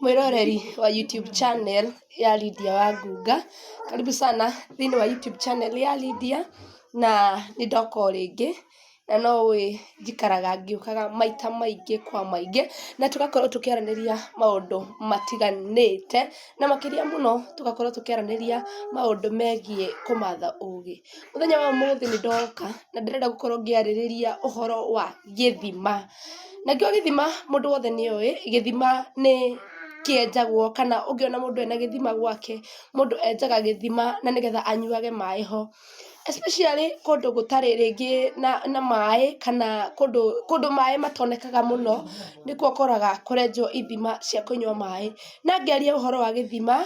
Mwĩroreri wa YouTube channel ya Lydia wa Ngunga, karibu sana thĩinĩ wa YouTube channel ya Lydia, na nĩ ndoka o rĩngĩ, na no ũĩ njikaraga ngĩũkaga maita maingĩ kwa maingĩ, na tũgakorwo tũkĩaranĩria maũndũ matiganĩte, na makĩria mũno tũgakorwo tũkĩaranĩria maũndũ megiĩ kũmatha ũgĩ. Mũthenya wa ũmũthĩ nĩ ndoka na ndĩrenda gũkorwo ngĩarĩrĩria ũhoro wa gĩthima. Nakĩo gĩthima mũndũ wothe nĩ oĩ, gĩthima nĩ kĩenjagwo kana ũngĩona mũndũ ena gĩthima gwake, mũndũ enjaga gĩthima na nĩgetha anyuage maĩ ho. Especially kũndũ gũtarĩ rĩngĩ na na maĩ kana kũndũ kũndũ maĩ matonekaga mũno, nĩkuo ũkoraga kũrenjwo ithima cia kũnyua maĩ. Na ngĩaria ũhoro wa gĩthima...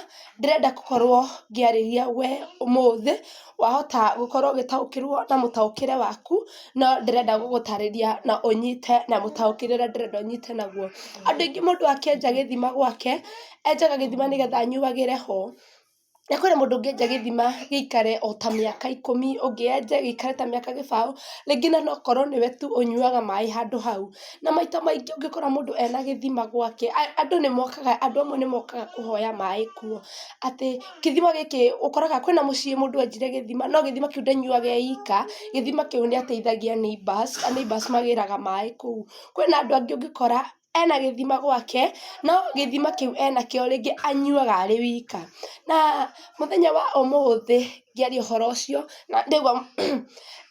ndĩrenda gũkorwo ngĩarĩria we ũmũthĩ, wahota gũkorwo ũgĩtaũkĩrwo na mũtaũkĩre waku, no ndĩrenda gũgũtarĩria na ũnyite na mũtaũkĩre ũrĩa ndĩrenda ũnyite naguo. Andũ aingĩ mũndũ akĩenja gĩthima gwake, enjaga gĩthima nĩgetha anyuagĩre ho. Na kwĩna mũndũ ũngĩ enja gĩthima gĩikare o ta mĩaka ikũmi, ũngĩ enje gĩikare ta mĩaka gĩbaũ, rĩngĩ na no ũkorwo nĩwe tu ũnyuaga maĩ handũ hau. Na maita maingĩ ũngĩkora mũndũ ena gĩthima gwake, andũ nĩ mokaga, andũ amwe nĩ mokaga kũhoya maĩ kuo. Atĩ gĩthima gĩkĩ, ũkoraga kwĩna mũciĩ mũndũ enjire gĩthima, no gĩthima kĩu ndanyuaga e ika, gĩthima kĩu nĩ ateithagia neighbours, a neighbours magĩraga maĩ kũu. Kwĩna andũ angĩ ũngĩkora, ena gĩthima gwake, no gĩthima kĩu enakĩo rĩngĩ anyuaga arĩ wika. Na mũthenya wa ũmũthĩ ngĩaria ũhoro ũcio, na ndaigua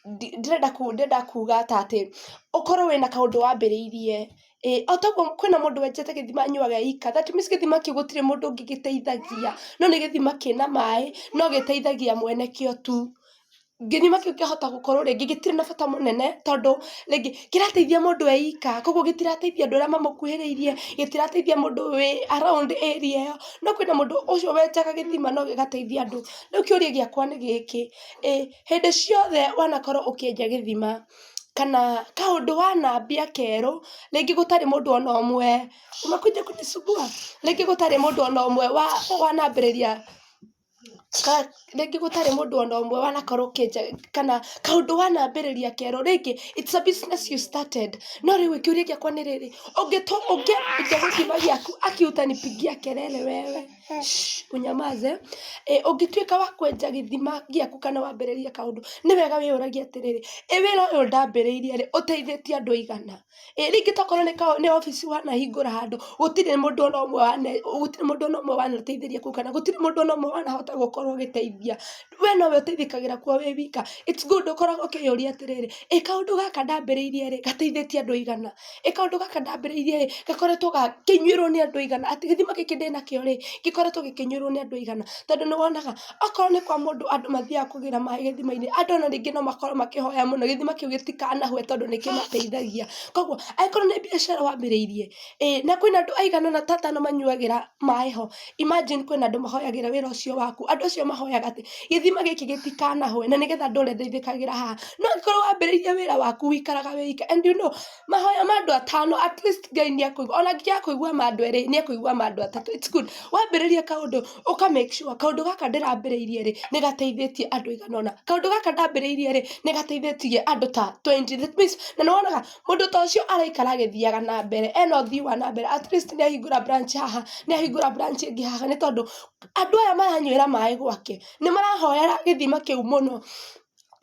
ndĩrenda ndĩrenda kuga ta atĩ, ũkorwo wĩna kaũndũ wambĩrĩirie ĩ, o toguo kwĩna mũndũ wenjete gĩthima anyuage eika, that means gĩthima kĩu gũtirĩ mũndũ ũngĩ gĩteithagia, no nĩ gĩthima kĩna maĩ, no gĩteithagia mwene kĩo tu. Gĩthima kĩu kĩahota gũkorwo rĩngĩ gĩtirĩ na bata mũnene, tondũ rĩngĩ kĩrateithia mũndũ eika, koguo gĩtirateithia andũ arĩa mamũkuhĩrĩirie, gĩtirateithia mũndũ wĩ around area ĩyo, no kwĩna mũndũ ũcio wenjaga gĩthima no gĩgateithia andũ. Rĩu kĩũria gĩakwa nĩ gĩkĩ, ĩ hĩndĩ ciothe wanakorwo ũkĩenja gĩthima, kana kaũndũ wanambia kerũ, rĩngĩ gũtarĩ mũndũ ona ũmwe, umekuja kunisumbua? rĩngĩ gũtarĩ mũndũ ona ũmwe wa wanambĩrĩria, ka rĩngĩ gũtarĩ mũndũ ona ũmwe wanakorwo ũkĩenja kana kaũndũ wanambĩrĩria kerũ, rĩngĩ it's a business you started no rĩu ĩ kĩũria gĩakwa nĩ rĩrĩ, ũngĩtũ ũngĩambĩte gĩthima gĩaku aki utanipigia kelele wewe. ũnyamaze, ũngĩtuĩka wa kwenja gĩthima gĩaku kana wambĩrĩrie kaũndũ, nĩ wega wĩyũragie atĩrĩrĩ, ĩ wĩra ũyũ ndambĩrĩirie rĩ, ũteithĩtie andũ aigana? Ĩ rĩngĩ tokorwo nĩ obici wanahingũra handũ, gũtirĩ mũndũ ona ũmwe gũtirĩ mũndũ ona ũmwe wanateithĩrĩria kũu kana gũtirĩ mũndũ ona ũmwe wanahota gũkorwo ũgĩteithia. we nowe ũteithĩkagĩra kuo wĩ wika it's good ũkoragwo ũkĩyũria atĩrĩrĩ ĩ kaũndũ gaka ndambĩrĩirie rĩ gateithĩtie andũ aigana ĩ kaũndũ gaka ndambĩrĩirie rĩ gakoretwo gakĩnyuĩrwo nĩ andũ aigana atĩ gĩthima gĩkĩ ndĩnakĩo rĩ gĩkoretwo gĩkĩnyuĩrwo nĩ andũ aigana tondũ nĩwonaga akorwo nĩ kwa mũndũ andũ mathiaga kũgĩra maĩ gĩthimainĩ andũ ona ningĩ no makorwo makĩhoya mũno gĩthima kĩu gĩtikanahwe tondũ nĩkĩmateithagia koguo angĩkorwo nĩ mbiacara wambĩrĩirie ĩ na kwĩna andũ aigana ũna ta atano manyuagĩra maĩ ho. Imagine kwĩna andũ mahoyagĩra wĩra ũcio waku, andũ acio mahoyaga atĩ, gĩthima gĩkĩ gĩtikanahwe na nĩgetha ndũre ndĩithĩkagĩra haha, no angĩkorwo wambĩrĩirie wĩra waku wĩikaraga wĩ ika, and you know mahoya ma andũ atano at least Ngai nĩakũigua, ona angĩaga kũigua ma andũ erĩ, nĩakũigua ma andũ atatũ, it's good, wambĩrĩria kaũndũ, ũka make sure kaũndũ gaka ndĩrambĩrĩirie rĩ, nĩgateithĩtie andũ aigana ũna, kaũndũ gaka ndambĩrĩirie rĩ, nĩgateithĩtie andũ ta twenty, that means nanĩwonaga. Mũndũ ta ũcio araikara agĩthiaga na mbere, ena ũthii wa na mbere, atleast nĩ ahingũra branch haha, nĩ ahingũra branch ĩngĩ haha nĩ tondũ andũ aya maranywĩra maĩ gwake, nĩ marahoera gĩthima kĩu mũno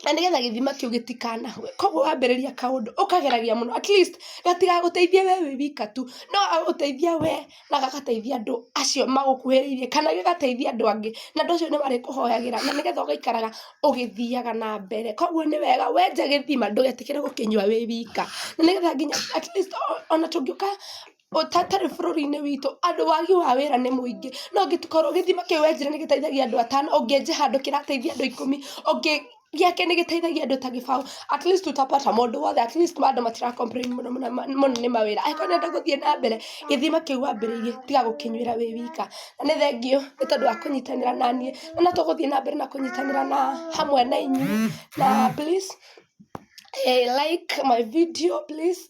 na nĩgetha gĩthima kĩu gĩtikanahwe. Kũguo wambĩrĩria kaũndũ, ũkageragia mũno atleast gatigagũteithie we wĩ wika tu, no gagũteithie we... na gagateithia andũ acio magũkuhĩrĩirie kana gĩgateithia andũ angĩ na andũ acio nĩmarĩkũhoyagĩra na nĩgetha ũgaikaraga ũgĩthiaga na mbere kwoguo nĩ wega wenja gĩthima ndũgetĩkĩre gũkĩnyua wĩ wika na nĩgetha nginya at least ona tũngĩũka hatarĩ bũrũri-inĩ witũ andũ wagi wa wĩra nĩ mũingĩ no ũngĩkorwo gĩthima kĩu wenjire nĩgĩteithagia andũ atano ũngĩenja handũ kĩrateithia andũ ikũmi ũngĩ gĩake nĩ gĩteithagia andũ ta gĩbaũ, at least utapata mũndũ wothe, at least andũ matira complain mũno mũno nĩ mawĩra, angĩkorwo nĩ ũrenda gũthiĩ na mbere, gĩthima kĩu wambĩrĩirie tiga gũkĩnyuĩra wĩ wika. Na nĩ thengiũ nĩ tondũ wa kũnyitanĩra na niĩ, na no tũgũthiĩ na mbere na kũnyitanĩra na hamwe na inyuĩ, na please like my video please.